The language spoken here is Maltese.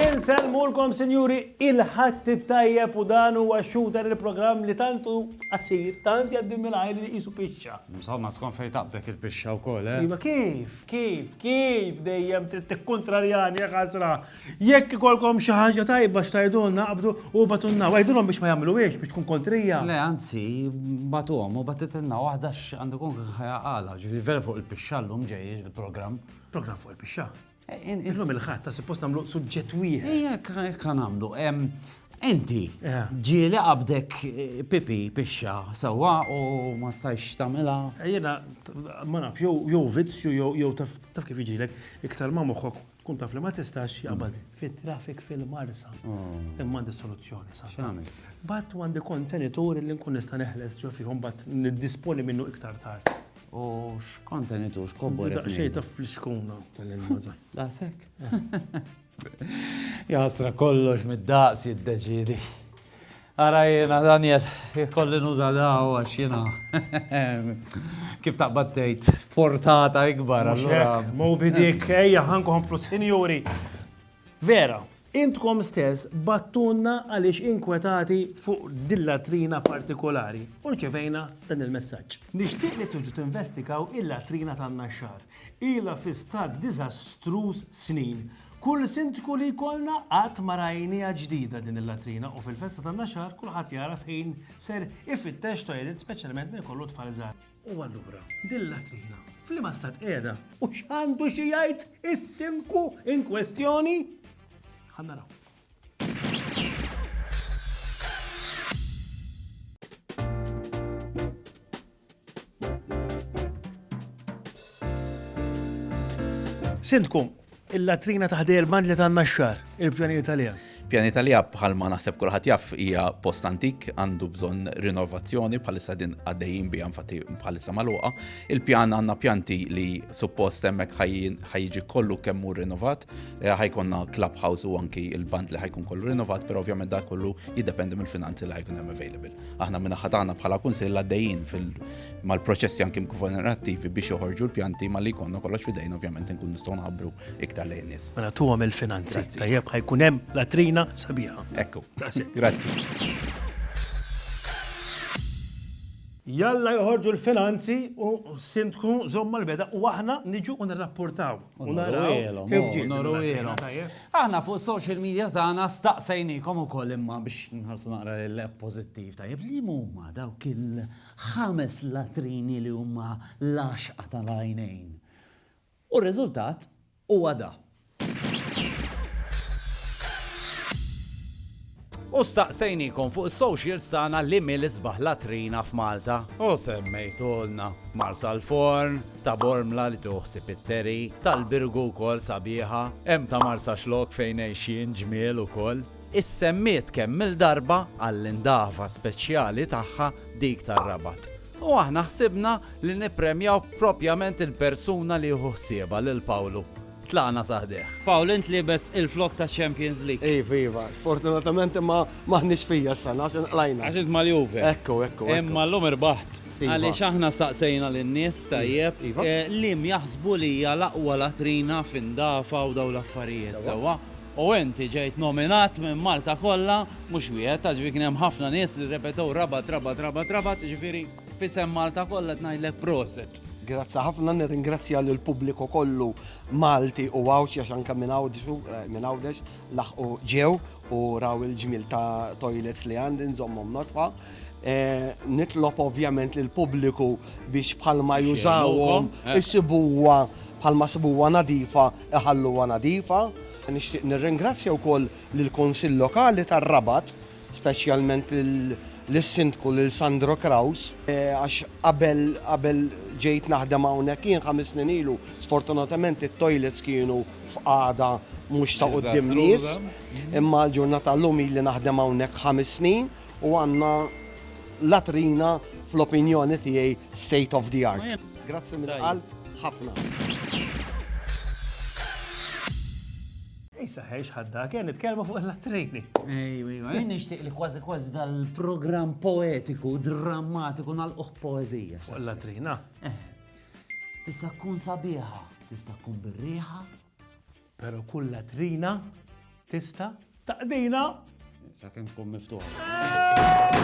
Inselmulkom sinjuri il-ħadd it-tajjeb u dan huwa x-shooter il-programm li tantu qasir, tant jgħaddi mingħajr li qisu pixxa. Insomma, skont fejn taqbdek il-pixxa wkoll, eh? Iva kif, kif, kif dejjem trid tikkuntrarjani jekk ħasra. Jekk ikollkom xi ħaġa tajba x'tgħidulna qabdu u ibgħatulna. Għidulhom biex ma jagħmluhiex biex tkun kontrija. Le anzi, bagħtuhom u bagħtitilna waħda x'għandu jkun kien ħajja għala. Ġifieri vera fuq il-pixxa llum ġej il-programm. Programm fuq il-pixxa? Illum il-Ħadd ta' suppost nagħmlu suġġett wieħed. Ejja hekk ħa nagħmlu. Inti, ġieli qabdek pipi pixxa sewwa u ma stajtx tagħmilha? Jiena ma naf, jew vizzju jew taf kif jiġrilek, iktar ma moħħok Tkun taf li ma tistax jaqbad fit-traffic fil-Marsa. Imma għandi soluzzjoni sa. X'għamil? Bat u għandi kontenitur li nkun nista' neħles ġo fihom bat niddisponi minnu iktar tard. U x'kontenitur x'kobbor. Daqsxejn ta' fliskuna tal-ilmaża. Daqshekk. Jasra kollox mid-daqs jiddeċidi. Ara jiena Daniel ikolli nuża daw għax jiena kif taqbad tgħid portata ikbar allura. Mhux hekk, Moby Dick, ejja ħa nkomplu sinjuri. Vera, intkom stess bagħtunna għaliex inkwetati fuq din latrina partikolari u rċevejna dan il-messaġġ. Nixtieq li tiġu tinvestigaw il-latrina tan-Naxxar. Ilha fi stat diżastruż snin. Kull Sindku li jkollna qatt ma rajniha ġdida din il-latrina u fil-festa tan-Naxar kulħadd jara fejn ser ifittex toilet speċjalment min ikollu tfal żgħar. U allura, din il-latrina f'liema stat qiegħda u x'għandu xi jgħid is-Sindku in kwestjoni? Ħa naraw. Sindku, il-latrina ta' ħdej il-band li tanna x-xar, il-pjanijiet għalija. Pjanijiet għalija bħal ma naħseb kulħadd jaff hija post antik għandu bżonn rinnovazzjoni bħalissa din għaddejjin bi infatti bħalissa magħluqa. Il-pjan għandna pjanti li suppost hemmhekk ħajjiġi kollu kemm hu rinnovat, eh, ħajkonna clubhouse u anki il-band li ħajkun kollu rinnovat, però ovvjament da kollu jiddependi mill-finanzi li ħajkun hemm available. Aħna min-naħa tagħna bħala Kunsill għaddejjin mal-proċessi anki governattivi biex joħorġu l-pjanti malli jkollna kollox f'idejna ovvjament inkun nistgħu nħabbru iktar lejn nies. Mela tuhom il-finanzi. Tajjeb ħajkun hemm latrina sabiħa. Ekku. Grazzi. Jalla joħorġu l-finanzi u sindku żomma l-beda u aħna niġu u nirrapportaw. U naraw kif ġiet. Noruwielhom. Aħna fuq social media tagħna staqsejniekom ukoll imma biex nħarsu naqra lejn pożittiv tajjeb li huma dawk il-ħames latrini li huma l-għaxqa tal-għajnejn. U r-riżultat huwa da. U staqsejnikom fuq is-socials tagħna li mi l-isbaħ latrina f'Malta. U semmejtulna Marsalforn, ta' Bormla li tieħu ħsieb it-Terry, tal-Birgu wkoll sabiħa, hemm ta' Marsaxlokk fejn għejxien ġmiel ukoll. Issemmiet kemm-il darba għall-indafa speċjali tagħha dik tar-Rabat. U aħna ħsibna li nippremjaw propjament il-persuna li jieħu ħsiebha lil Pawlu. Tlaqna sa ħdejh. Paul, int liebes il-flokk taċ-Champions League. Iva, iva. Sfortunatament imma m'aħniex fija s-sena għax inqlajna. Għax int mal-Juve. Ekku, ekku, ekku. Imma llum irbaħt. Iva. Għaliex aħna staqsejna lin-nies, tajjeb, liema jaħsbu li hija l-aqwa latrina f'indafa u dawn l-affarijiet, sewwa? U inti ġejt nominat minn Malta kollha, mhux wieħed, għax ġifieri kien hemm ħafna nies li rrepetew Rabat, Rabat, Rabat, Rabat, ġifieri. F'isem Malta kollha qed ngħidlek proset. Grazzi ħafna, nirringrazzja lill pubbliku kollu Malti u Għawdxi għax anke minn Għawdxu, eh, minn Għawdex laħqu ġew u raw il-ġmil ta' toilets li għandi nżommhom notfa. Eh, nitlob ovvjament lill pubbliku biex bħalma jużawhom eh. isibuha bħalma sibuha nadifa iħalluha nadifa. Nixtieq nirringrazzja wkoll lill-Kunsill Lokali tar-Rabat speċjalment lis-Sindku lil Sandro Kraus għax qabel qabel ġejt naħdem hawnhekk jien ħames snin ilu sfortunatament it-toilets kienu f'qagħda mhux ta' quddiem nies imma l-ġurnata llum ili naħdem hawnhekk ħames snin u għandna latrina fl-opinjoni tiegħi state of the art. Grazzi mill-qalb ħafna. Issa ħejx ħadda, kien nitkellmu fuq il-lattrini. Ejwa, ejwa, jien nixtieq li kważi kważi dal-programm poetiku, drammatiku nal-uħ poezija. Fuq il-latrina. Eh, tista' tkun sabiħa, tista' tkun birriħa. Pero kull latrina tista' taqdina. Sa' kem tkun miftuħa. Eh!